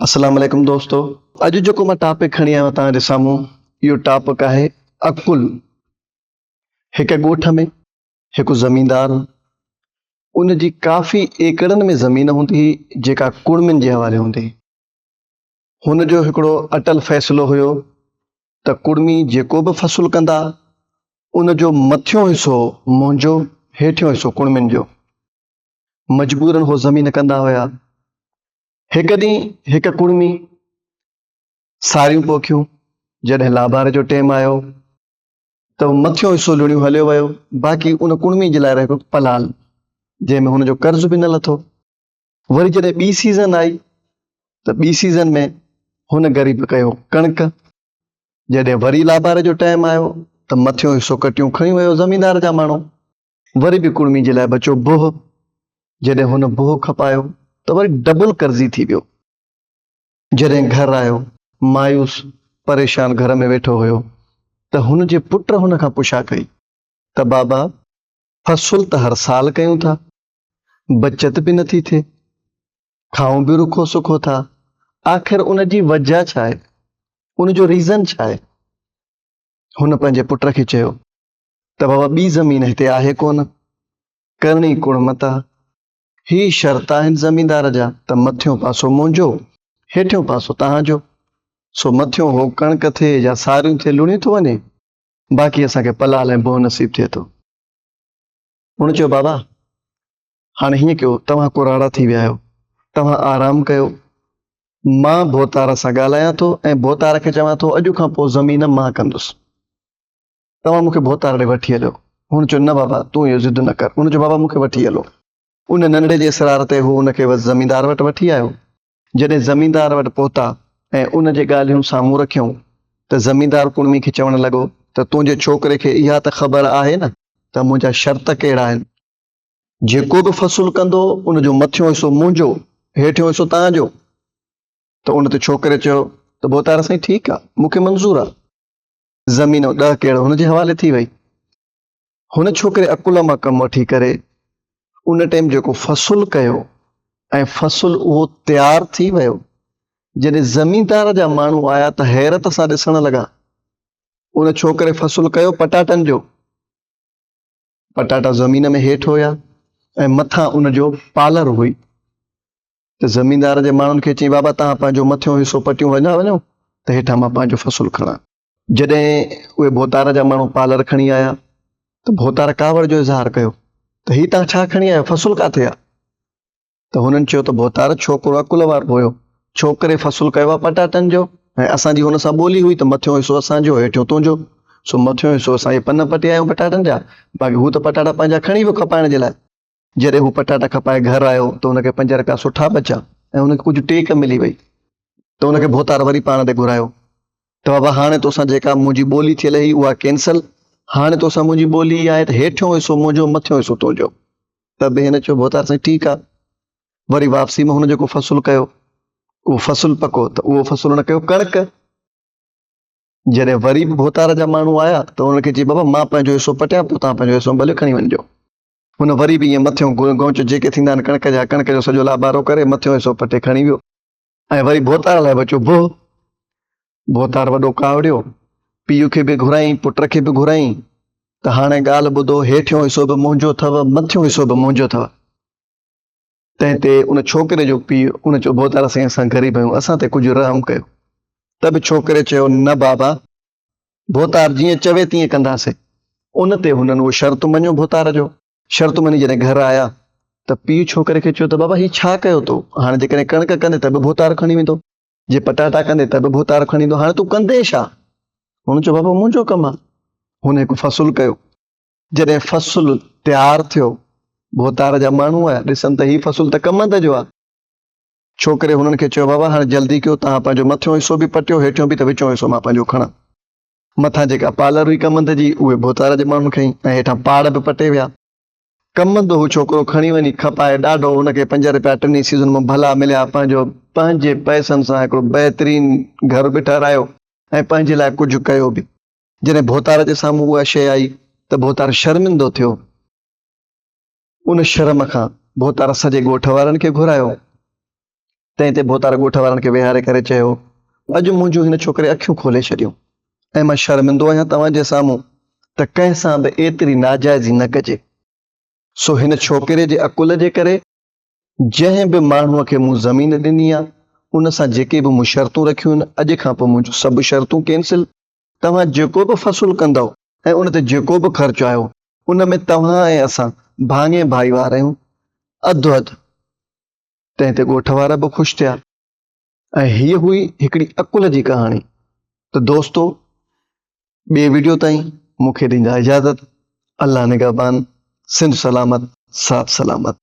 اسلام عليڪم دوستو اڄ جيڪو مان ٽاپڪ کڻي آيو توهان جي سامهون اهو ٽاپڪ آهي عقل هڪ ڳوٺ ۾ هڪ زميندار هو ان جي ڪافي ايڪڙن ۾ زمين هوندي هئي جيڪا ڪڙمين جي حوالي هوندي هن جو هڪڙو اٽل فيصلو هيو ته ڪڙمي جيڪو به فصل ڪندا ان جو مٿيون حصو منهنجو هيٺيون حصو ڪڙمين جو مجبورن هو زمين ڪندا هيا هڪ ڏينهن هڪ ڪڙمي ساريون پوکيون جڏهن لابار جو ٽيم آيو ته مٿيون حصو لوڻيون هليو ويو باقي ان ڪڙمي جي لاء رهيو پلال جنهن ۾ هن جو قرض به نه لٿو وري جڏهن ٻي سيزن آئي ته ٻي سيزن ۾ هن غريب ڪيو ڪڻڪ جڏهن وري لابار جو ٽائم آيو ته مٿيون حصو ڪٽيون کڻي ويو زميندار جا ماڻهو وري به ڪڙمي جي لاء بچو بوهه، جڏهن هن بوهه کپايو ته وري ڊبل قرضي ٿي ويو. جڏهن گهر آيو، مايوس پريشان گهر ۾ ويٺو هيو ته هن جي پٽ هن کان پڇا ڪئي ته بابا فصل ته هر سال ڪيون ٿا، بچت به نه ٿي ٿئي، کائون به رکو سکو ٿا، آخر ان جي وجهه ڇا آهي؟ ان جو ريزن ڇا آهي؟ هن پنهنجي پٽ کي چيو ته بابا ٻي زمين هتي آهي ڪونه، ڪرڻي ڪوڙ متا، هي شرط آهن زميندار جا ته مٿيون پاسو منهنجو، هيٺيون پاسو توهان جو، سو مٿيون هو ڪڻڪ ٿئي يا ساريون ٿئي لڻيون ٿو وڃي، باقي اسان کي پلال ۽ بوهه نصيب ٿئي ٿو. هن چيو بابا هاڻي هيئن ڪيو توهان ڪراڙا ٿي ويا آهيو، توهان آرام ڪيو، مان ڀوتار سان ڳالهايان ٿو ۽ ڀوتار کي چوان ٿو اڄ کان پوء زمين مان ڪندس. توهان مونکي ڀوتار ڏي وٺي هليو. هن چيو، نه بابا، تون اهو ضد نه ڪر. هن چيو، بابا مونکي وٺي هلو. ان ننڍڙي جي اصرار تي هو هن کي وس زميندار وٽ وٺي آيو. جڏهن زميندار وٽ پهتا ۽ ان جي ڳالهيون سامهون رکيائون ته زميندار ڪڙمي کي چوڻ لڳو ته تنهنجي ڇوڪري کي اها ته خبر آهي نه ته منهنجا شرط ڪهڙا آهن. جيڪو به فصل ڪندو ان جو مٿيون حصو منهنجو، هيٺيون حصو توهان جو. ته ان تي ڇوڪري چيو ته ڀوتار سائين ٺيڪ آهي، مونکي منظور آهي. زمين ۽ ڏهه ڪيڙ هن جي حوالي ٿي وئي. هن ڇوڪري عقل مان ڪم وٺي ڪري ان ٽيم جيڪو فصل ڪيو ۽ فصل اهو تيار ٿي ويو. جڏهن زميندار جا ماڻهو آيا ته حيرت سان ڏسڻ لڳا. ان ڇوڪري فصل ڪيو پٽاٽن جو. پٽاٽا زمين ۾ هيٺ هيا ۽ مٿان ان جو پالر هئي. ته زميندار جي ماڻهن کي چيائين، بابا توهان پنهنجو مٿيون حصو پٽيون وڃان وڃو ته هيٺان مان پنهنجو فصل کڻان. جڏهن اهي ڀوتار جا ماڻهو پالر کڻي آيا ته ڀوتار ڪاوڙ جو اظهار ڪيو ته هي توهان ڇا کڻي آيو فصل ڪاٿي آ؟ ته هنن چيو ته ڀوتار ڇوڪرو عقل وارو هيو، ڇوڪري فصل ڪيو آ پٽاٽن جو ۽ اسان جي هن سان ٻولي هئي ته مٿيون حصو اسان جو هيٺيون تنهنجو، سو مٿيون حصو اسان اهي پن پٽيا آهيون پٽاٽن جا، باقي هو ته پٽاٽا پنهنجا کڻي ويو کپائڻ جي لاء. جڏهن هو پٽاٽا کپائي گهر آيو ته هن کي پنج رپيا سٺا بچا ۽ هن کي ڪجهه ٽيڪ ملي وئي ته هن کي ڀوتار وري پاڻ ڏي گهرايو ته بابا هاڻي توسان جيڪا منهنجي ٻولي ٿيل هئي اها ڪينسل هاڻي توسان منهنجي ٻولي اها آهي ته هيٺيون حصو منهنجو مٿيون حصو تنهنجو ته به هن چيو ڀوتار سائين ٺيڪ آهي وري واپسي ۾ هن جيڪو فصل ڪيو اهو فصل پڪو ته اهو فصل هن ڪيو ڪڻڪ جڏهن وري به ڀوتار جا ماڻهو آيا ته هن کي چي بابا مان پنهنجو حصو پٽيان پيو تان پنهنجو حصو ڀلي کڻي وڃجو هن وري به ائين مٿيون گونچ جيڪي ٿيندا آهن ڪڻڪ جا، ڪڻڪ جو سڄو لابارو ڪري مٿيون حصو پٽي کڻي ويو ۽ وري ڀوتار لاء بچيو بوهه. ڀوتار وڏو ڪاوڙيو، پيء کي به گهرائين، پٽ کي به گهرائين ته هاڻي ڳالهه ٻڌو، هيٺيون حصو به منهنجو اٿئو، مٿيون حصو به منهنجو اٿئو. تنهن تي ان ڇوڪري جو پيء ان چيو، ڀوتار سائين اسان غريب آهيون، اسان تي ڪجهه رحم ڪيو. ته به ڇوڪري چيو، نه بابا! ڀوتار جيئن چوي تيئن ڪنداسين. ان تي هنن اهو شرط مڃيو ڀوتار جو شرط مڃي جڏهن گهر آيا ته پيء ڇوڪري کي چيو ته بابا هي ڇا ڪيو تو هاڻ جيڪڏهن ڪڻڪ ڪندين ته به ڀوتار کڻي ويندو جي پٽاٽا ڪندين ته به ڀوتار کڻي ويندو هاڻ تون ڪندين ڇا؟ هن چيو بابا منهنجو ڪم آ. هن هڪ فصل ڪيو جڏهن فصل تيار ٿيو ڀوتار جا ماڻهو آيا ڏسن ته هي فصل ته ڪمند جو آ. ڇو ڪري هنن کي چيو بابا هاڻي جلدي ڪيو توهان پنهنجو مٿيون حصو به پٽيو هيٺيون به ته وچون حصو مان پنهنجو کڻان. مٿان جيڪا پالر هئي ڪمند جي اهي ڀوتار جي ماڻهن کنئي ۽ هيٺان پاڙ به پٽي ويا. ڪمند هو ڇوڪرو کڻي وڃي کپائي ڏاڍو هن کي پنج رپيا ٽنهي سيزن مان ڀلا مليا پنهنجو پنهنجي پئسن سان هڪڙو بهترين گهر به ٺهرايو ۽ پنهنجي لاء ڪجهه ڪيو به. جڏهن ڀوتار جي سامهون اها شيء آئي ته ڀوتار شرمندو ٿيو. ان شرم کان ڀوتار سڄي ڳوٺ وارن کي گهرايو. تنهن تي ڀوتار ڳوٺ وارن کي ويهاري ڪري چيو، اڄ منهنجون هن ڇوڪري اکيون کولي ڇڏيون ۽ مان شرمندو آهيان توهان جي سامهون ته ڪنهن سان به ايتري ناجائزي نه ڪجي. سو هن ڇوڪري جي عقل جي ڪري جنهن به ماڻهوء کي مون زمين ڏني آهي، ان سان جيڪي به مون شرطون رکيون آهن، اڄ کان پوء منهنجون سڀ شرطون ڪينسل. توهان جيڪو به فصل ڪندؤ ۽ ان تي جيڪو به خرچ آيو، ان ۾ توهان ۽ اسان ڀاڱي ڀائيوار آهيون، اڌ اڌ. تنهن تي ڳوٺ وارا به خوش ٿيا ۽ هيء هئي هڪڙي عقل جي ڪهاڻي. ته دوستو، ٻئي وڊيو تائين مون کي ڏيندا اجازت. الله نگهبان، سنڌ سلامت، ساٿ سلامت.